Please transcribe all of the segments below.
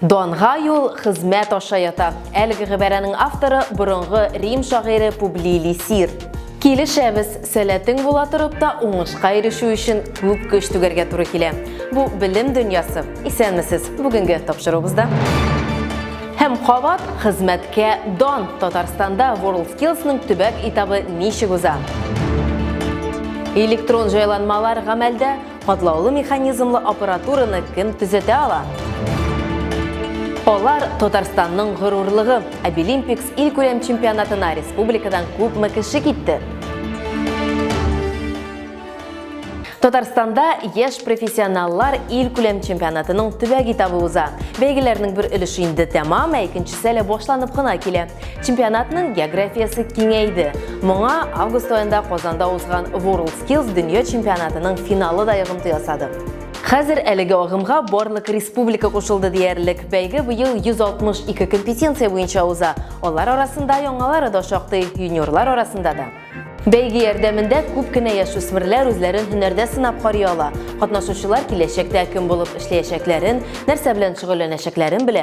Данга юл хезмәт аша ята. Әлеге гыйбарәнең авторы борынгы Рим шагыйре Публий Лисир. Килешәбез, сәләтең була торып та уңышка ирешү өчен күп көч түгәргә туры килә. Бу белем дөньясы. Исәнмесез. Бүгенге тапшыруыбызда Һәм кабат хезмәткә дан Татарстанда WorldSkills-ның төбәк этабы ничек уза? Электрон җайланмалар гамәлдә Катлаулы механизмлы аппаратураны кем төзәтә ала? Алар Татарстанның горурлыгы. Обилимпикс илкүләм чемпионатына республикадан күпме кеше китте? Татарстанда яшь профессионаллар ил күләм чемпионатының төбәк этабы уза. Бәйгеләрнең бер өлеше инде тәмам, ә икенчесе әле башланып кына килә. Чемпионатның географиясе киңәйде. Моңа август аенда Казанда узган World Skills дөнья чемпионатының финалы да йогынты ясады. Хәзер әлеге агымга барлык республика кушылды диярлек. Бәйге быел 162 компетенция буенча уза. Алар арасында яңалары да шактый, юниорлар арасында да. Бәйге ярдәмендә күп кенә яшүсмерләр үзләрен һөнәрдә сынап карый ала. Катнашучылар киләчәктә кем булып эшләячәкләрен, нәрсә белән шөгыльләнәчәкләрен белә.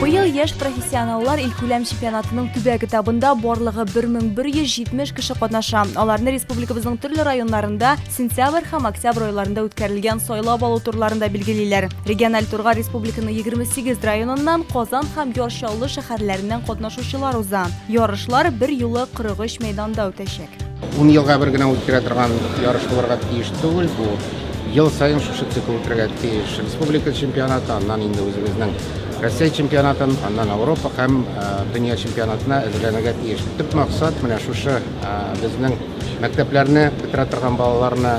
Быел яшь профессионаллар илкүләм чемпионатының төбәк этабында барлыгы 1170 кеше катнаша. Аларны республикабызның төрле районнарында сентябрь һәм октябрь айларында үткәрелгән сайлап алу турларында билгелиләр. Региональ турга республиканың 28 районыннан, Казан һәм Яр Чаллы шәһәрләреннән катнашучылар уза. Ярышлар бер юлы 43 мәйданда үтәчәк. Ун елга бер генә үткәрә торган ярыш булырга тиеш түгел бу. Ел саен шушы цикл үтәргә тиеш. Республика чемпионаты, аннан инде үзебезнең Россия чемпионатын, аннан Европа һәм э, дөнья чемпионатына әзерләнергә тиеш. Төп максат менә шушы э, безнең мәктәпләрне бетерә торган балаларны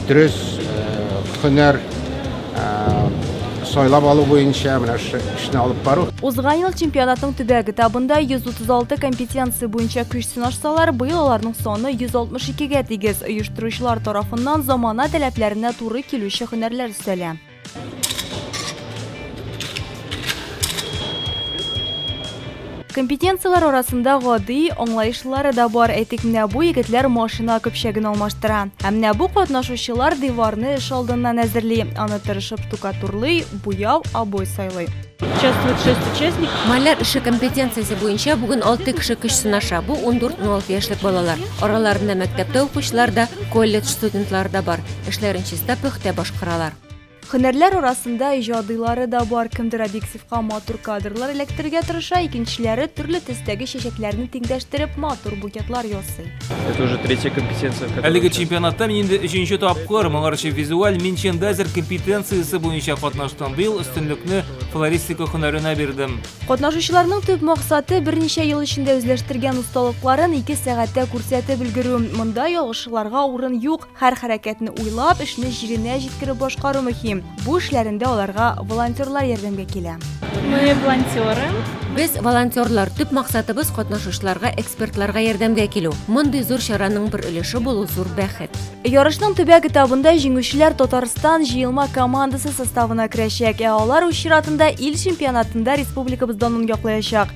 дөрес э, һөнәр сайлап алу буенча менә шушы эшне алып бару. Узган ел чемпионатның төбәк этабында 136 компетенция буенча көч сынашсалар, быел аларның саны 162-гә тигез. Оештыручылар тарафыннан замана таләпләренә туры килүче һөнәрләр өстәлә. Компетенцияләр арасында гади, аңлаешлылары да бар. Әйтик, менә бу егетләр машина көпчәген алмаштыра. Ә менә бу катнашучылар диварны эш алдыннан әзерли, аны тырышып штукатурлый, буяу, обой сайлый. Участвует 6 участник. Маляр эше компетенциясе буенча бүген 6 кеше көч сынаша. Бу 14-16 яшьлек балалар. Араларында мәктәптә укучылар да, колледж студентлары да бар. Эшләрен чиста пөхтә башкаралар. Һөнәрләр арасында иҗадыйлары да бар, кемдер объективка матур кадрлар эләктерергә тырыша, икенчеләре төрле төстәге чәчәкләрне тиңдәштереп матур букетлар ясый. Это уже третья компетенция, в которой Әлеге участвую. чемпионатта мин инде өченче тапкыр, моңарчы визуаль минчендайзер компетенциясе буенча катнаштым. Быел өстенлекне флористика һөнәренә бирдем. Катнашучыларның төп максаты, берничә ел эчендә үзләштергән осталыкларын ике сәгатьтә күрсәтеп өлгерү. Монда ялгышуларга урын юк. Һәр хәрәкәтне уйлап, эшне җиренә җиткереп башкару мөһим. Бу эшләрендә аларга волонтерлар ярдәмгә килә. Мы волонтеры. Без волонтерлар, төп максатыбыз катнашучыларга, экспертларга ярдәмгә килү. Мондый зур чараның бер өлеше булу зур бәхет. Ярышның төбәк этабында җиңүчеләр Татарстан җыелма командасы составына керәчәк, ә алар үз чиратында ил чемпионатында республикабыз данын яклаячак.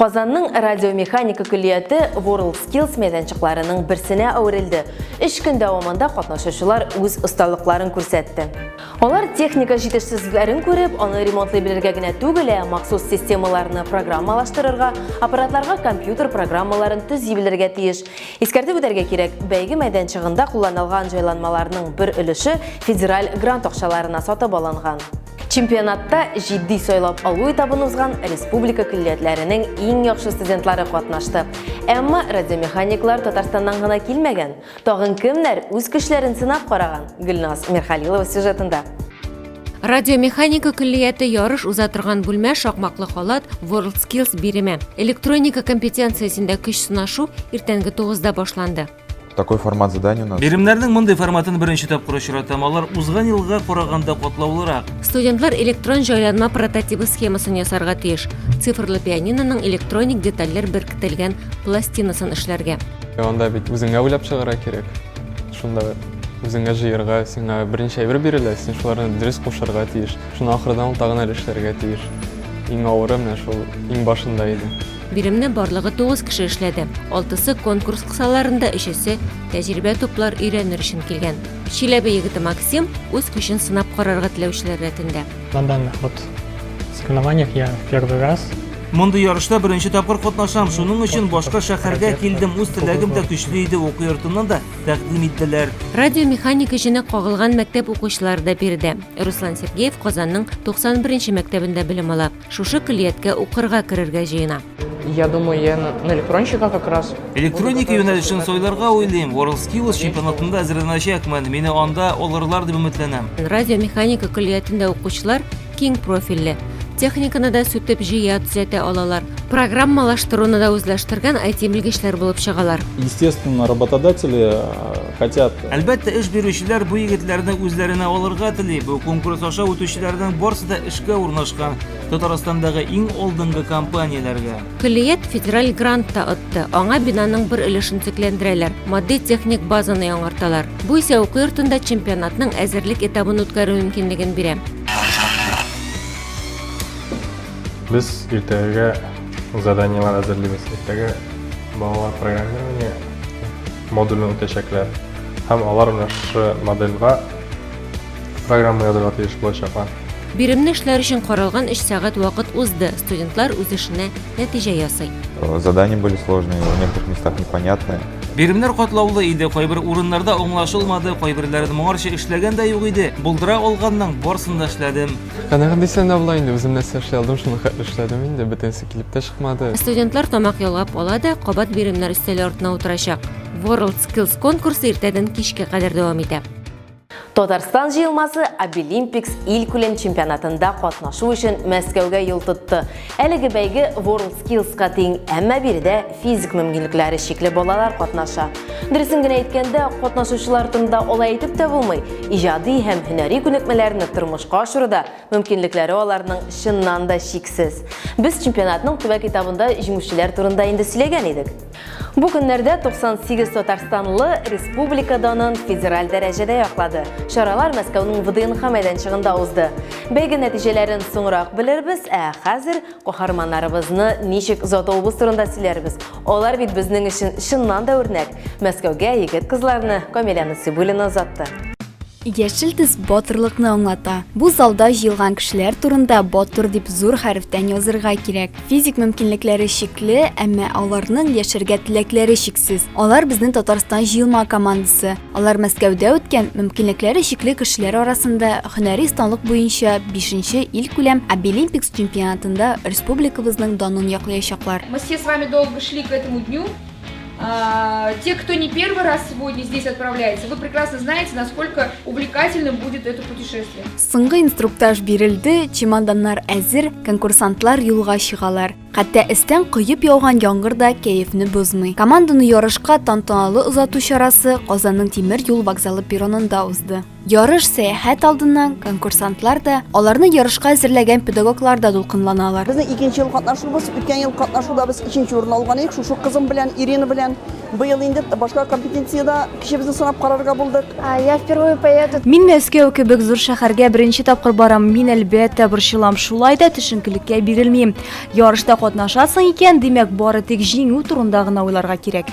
Казанның радиомеханика көллияте World Skills мәйданчыкларының берсенә әверелде. Өч көн дәвамында катнашучылар үз осталыкларын күрсәтте. Алар техника җитешсезлекләрен күреп, аны ремонтлый белергә генә түгел, ә махсус системаларны программалаштырырга, аппаратларга компьютер программаларын төзи белергә тиеш. Искәртеп үтәргә кирәк, бәйге мәйданчыгында кулланылган җайланмаларның бер өлеше федераль грант акчаларына сатып алынган. Чемпионатта җитди сайлап алу этабын узган республика көллиятләренең иң яхшы студентлары катнашты. Әмма радиомеханиклар Татарстаннан гына килмәгән. Тагын кемнәр үз көчләрен сынап караган? Гөлназ Мирхалилова сюжетында. Радиомеханика көллияте ярыш уза торган бүлмә шакмаклы халат WorldSkills биреме. Электроника компетенциясендә көч сынашу иртәнге 9 да башланды. Такой формат задания у нас. Биремнәрнең мондый форматын беренче тапкыр очратам. Алар узган елга караганда катлаулырак. Студентлар электрон җайланма прототибы схемасын ясарга тиеш. Цифрлы пианиноның электроник детальләр беркетелгән пластинасын эшләргә. Анда бит үзеңә уйлап чыгарга кирәк. Шунда үзеңә җыерга, сиңа беренче әйбер бирелә, син шуларны дөрес кушарга тиеш. Шуны ахырдан ул тагын әле эшләргә тиеш. Иң авыры менә шул иң башында иде. Биремне барлыгы тугыз кеше эшләде. Алтысы конкурс кысаларында, өчесе тәҗрибә туплар өйрәнер өчен килгән. Чиләбе егете Максим үз көчен сынап карарга теләүчеләр рәтендә. На данных вот соревнованиях я в первый раз. Мондый ярышта беренче тапкыр катнашам, шуның өчен башка шәһәргә килдем, үз теләгем дә көчле иде, уку йортыннан да тәкъдим итделәр. Радиомеханик эшенә кагылган мәктәп укучылары да биредә. Руслан Сергеев Казанның 91 нче мәктәбендә белем ала. Шушы көллияткә укырга керергә җыена. Я думаю, я на, на электронщика как раз. Электроника юнәлешен сайларга уйлыйм. WorldSkills чемпионатында әзерләнәчәкмен. Мине анда алырлар дип өметләнәм. Радиомеханика көллиятендә укучылар киң профильле. Техниканы да сүтеп җыя, төзәтә алалар. Программалаштыруны да үзләштергән IT-белгечләр булып чыгалар. Естественно, работодатели э, Хотят. Э, Әлбәттә, эш бирүчеләр бу егетләрне үзләренә алырга тели. Бу конкурс аша үтүчеләрнең барысы да эшкә урнашкан Татарстандагы иң алдынгы компанияләргә. Көллият федераль грант та отты. Аңа бинаның бер өлешен төзекләндерәләр, матди-техник базаны яңарталар. Бу исә уку йортында чемпионатның әзерлек этабын үткәрү мөмкинлеген бирә. Без иртәгәгә заданиеләр әзерлибез. Иртәгә балалар программирование модульне үтәчәкләр һәм алар менә шушы модельга программа язырга тиеш булачаклар. Биремне эшләр өчен каралган 3 сәгать вакыт узды. Студентлар үз эшенә нәтиҗә ясый. Э, задания были сложные, в некоторых местах непонятные. Биремнәр катлаулы иде, кайбер урыннарда аңлашылмады, кайберләрен моңарчы эшләгән дә юк иде. Булдыра алганның барсын да эшләдем. Канәгать дисәң дә була инде, үзем нәрсә эшли алдым, шуны хәтле эшләдем инде, бөтенесе килеп тә чыкмады. Студентлар тамак ялгап ала да, кабат биремнәр өстәле артына утырачак. World Skills конкурсы иртәдән кичкә кадәр дәвам итә. Татарстан җыелмасы Обилимпикс илкүләм чемпионатында катнашу өчен Мәскәүгә юл тотты. Әлеге бәйге WorldSkills ка тиң, әмма биредә физик мөмкинлекләре чикле балалар катнаша. Дөресен генә әйткәндә, катнашучылар турында алай әйтеп тә булмый. Иҗади һәм һөнәри күнекмәләрне тормышка ашыруда мөмкинлекләре аларның чыннан да чиксез. Без чемпионатның төбәк этабында җиңүчеләр турында инде сөйләгән идек. Бу көннәрдә 98 татарстанлы республика данын федераль дәрәҗәдә яклады. Чаралар Мәскәүнең ВДНХ мәйданчыгында узды. Бәйге нәтиҗәләрен соңрак белербез, ә хәзер каһарманнарыбызны ничек озатуыбыз турында сөйләрбез. Алар бит безнең өчен чыннан да үрнәк. Мәскәүгә егет-кызларны, Камилә Насыйбуллина озатты. Яшел төс батырлыкны аңлата. Бу залда җыелган кешеләр турында батыр дип зур хәрефтән язырга кирәк. Физик мөмкинлекләре чикле, әмма аларның яшәргә теләкләре чиксез. Алар безнең Татарстан җыелма командасы. Алар Мәскәүдә үткән мөмкинлекләре чикле кешеләр арасында һөнәри осталык буенча бишенче илкүләм Абилимпикс чемпионатында республикабызның данын яклыячаклар. Мы все с вами долго шли к этому дню. А, те, кто не первый раз сегодня здесь отправляется, вы прекрасно знаете, насколько увлекательным будет это путешествие. Соңгы инструктаж бирелде, чемоданнар әзер, конкурсантлар юлга чыгалар. Хәтта эстән коеп яуган яңгыр да кәефне бозмый. Команданы ярышка тантаналы озату чарасы Казанның тимер юл вокзалы перронында узды. Ярыш сәяхәт алдыннан конкурсантлар да, аларны ярышка әзерләгән педагоглар да дулкынланалар. Безнең икенче ел катнашуыбыз, үткән ел катнашуда без өченче урын алган идек, шушы кызым белән, Ирина белән. Быел инде башка компетенциядә кешебезне сынап карарга булдык. Я впервые поеду. Мин Мәскәү кебек зур шәһәргә беренче тапкыр барам, мин, әлбәттә, борчылам, шулай да төшенкелеккә бирелмим. Ярышта катнашасың икән, димәк, бары тик җиңү турында гына уйларга кирәк.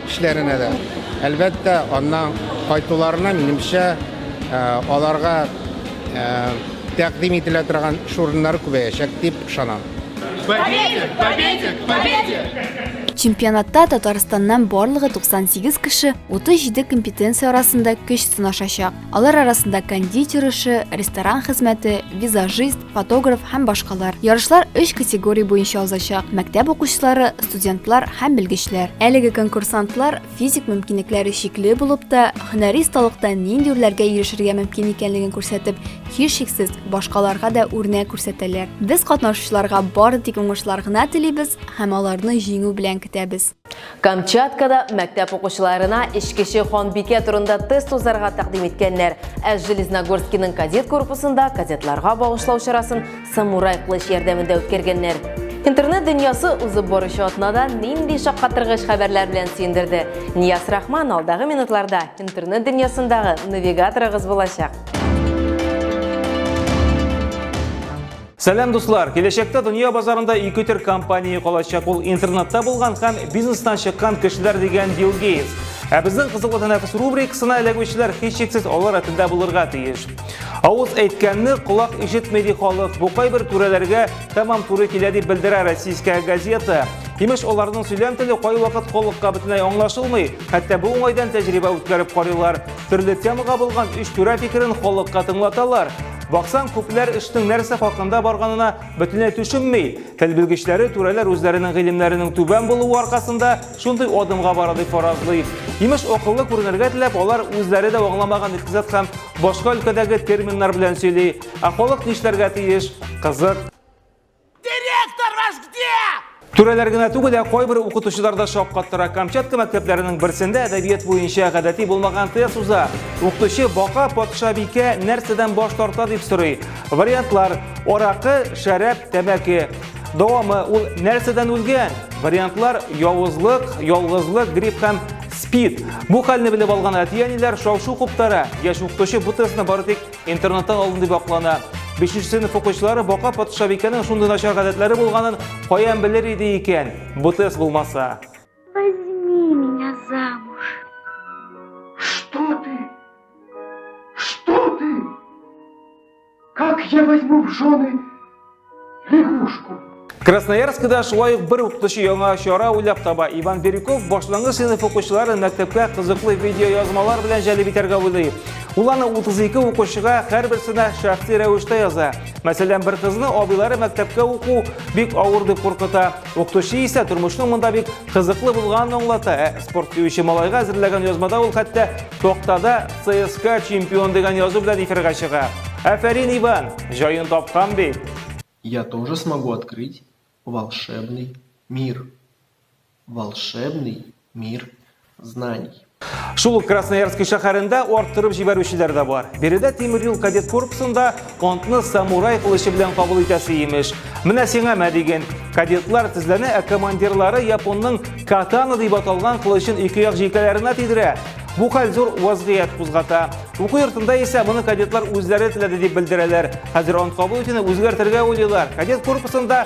Эшләренә дә. Әлбәттә, аннан кайтуларына, минемчә, аларга тәкъдим ителә торган эш урыннары күбәячәк дип ышанам. К победе! К победе! К победе! Чемпионатта Татарстаннан барлыгы 98 кеше 37 компетенция арасында көч сынашачак. Алар арасында кондитер эше, ресторан хезмәте, визажист, фотограф һәм башкалар. Ярышлар өч категория буенча узачак: мәктәп укучылары, студентлар һәм белгечләр. Әлеге конкурсантлар физик мөмкинлекләре чикле булып та, һөнәри осталыкта нинди үрләргә ирешергә мөмкин икәнлеген күрсәтеп, һичшиксез, башкаларга да үрнәк күрсәтәләр. Без катнашучыларга бары тик уңышлар гына телибез һәм аларны җиңү белән көтәбез. Камчаткада мәктәп укучыларына эчкече ханбикә турында тест узарга тәкъдим иткәннәр. Ә Железногорскиның кадет корпусында кадетларга багышлау чарасын самурай кылыч ярдәмендә үткәргәннәр. Интернет дөньясы узып баручы атнада нинди шаккатыргыч хәбәрләр белән сөендерде? Нияз Рахман алдагы минутларда интернет дөньясындагы навигаторыгыз булачак. Сәлам дуслар! Киләчәктә дөнья базарында ике төр компания калачак. Ул интернетта булган һәм бизнестан чыккан кешеләр дигән Билл Гейтс. Ә безнең кызыклы тәнәфес рубрикасына эләгүчеләр һичшиксез алар рәтендә булырга тиеш. Авыз әйткәнне колак ишетми ди халык. Бу кайбер түрәләргә тәмам туры килә дип белдерә российская газета. Имеш, аларның сөйләм теле кайвакыт колыкка бөтенләй аңлашылмый. Хәтта бу уңайдан тәҗрибә үткәреп карыйлар. Төрле темага булган үч түрә фикерен халыкка тыңлаталар. Баксаң, күпләр эшнең нәрсә хакында барганына бөтенләй төшенми. Тел белгечләре түрәләр үзләренең гыйлемнәренең түбән булуы аркасында шундый адымга бара дип фаразлый. Имеш, акыллы күренергә теләп, алар үзләре дә аңламаган икътисад һәм башка өлкәдәге терминнар белән сөйли. Ә халык нишләргә тиеш? Кызык. Директор ваш где? Түрәләр генә түгел, ә кайбер укытучылар да шаккаттыра. Камчатка мәктәпләренең берсендә әдәбият буенча гадәти булмаган тест уза. Укытучы бака патша бикә нәрсәдән баш тарта дип сорый. Вариантлар: аракы, шәраб, тәмәке. Дәвамы ул нәрсәдән үлгән? Вариантлар: явызлык, ялгызлык, грипп һәм спид. Бу хәлне белеп алган әти-әниләр шау-шу куптара. Яшь укытучы бу тестны бары тик Интернеттан алдым дип аклана. Бишенче сыйныф укучылары Бака патшабикәнең шундый начар гадәтләре булганын каян белер иде икән? Бу тест булмаса. Возьми меня замуж. Что ты? Что ты? Как я возьму в жены лягушку. Красноярскда да шулай ук бер укытучы яңа чара уйлап таба. Иван Бирюков башлангыч сыйныф укучыларын мәктәпкә кызыклы видеоязмалар белән җәлеп итәргә уйлый. Ул аны 32 укучыга һәрберсенә шәхси рәвештә яза. Мәсәлән, бер кызны абыйлары мәктәпкә уку бик авыр дип куркыта. Укытучы исә тормышның монда бик кызыклы булганын аңлата. Ә спорт сөюче малайга әзерләгән язмада ул хәтта токтада ЦСКА чемпион дигән язу белән эфирга чыга. Афәрин, Иван, җаен тапкан бит. Я тоже смогу открыть волшебный мир. Волшебный Мир знаний. Шул ук Красноярск шәһәрендә арттырып җибәрүчеләр дә бар. Биредә тимер юл кадет корпусында антны самурай кылычы белән кабул итәсе имеш. Менә сиңа мә диген. Кадетлар тезләнә, ә командирлары японның катана дип аталган кылычын ике як җилкәләренә тидерә. Бу хәл зур вазгыять кузгата. Уку йортында исә моны кадетлар үзләре теләде дип белдерәләр. Хәзер ант кабул итүне үзгәртергә уйлыйлар. Кадет корпусында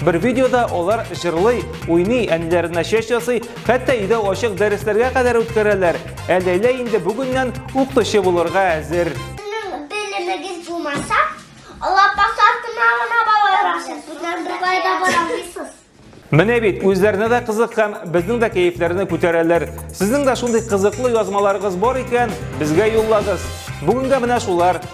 Бер видеода алар җырлый, уйный, әниләренә чәч ясый, хәтта өйдә ачык дәресләргә кадәр үткәрәләр. Ә Ләйлә инде бүгеннән укытучы булырга әзер. Сезнең белемегез булмаса, лапас артына гына барасыз. Сезнең беркая да бармыйсыз. Менә бит, үзләренә дә кызык һәм безнең дә кәефләрне күтәрәләр. Сезнең дә шундый кызыклы язмаларыгыз бар икән, безгә юллагыз. Бүгенгә менә шулар.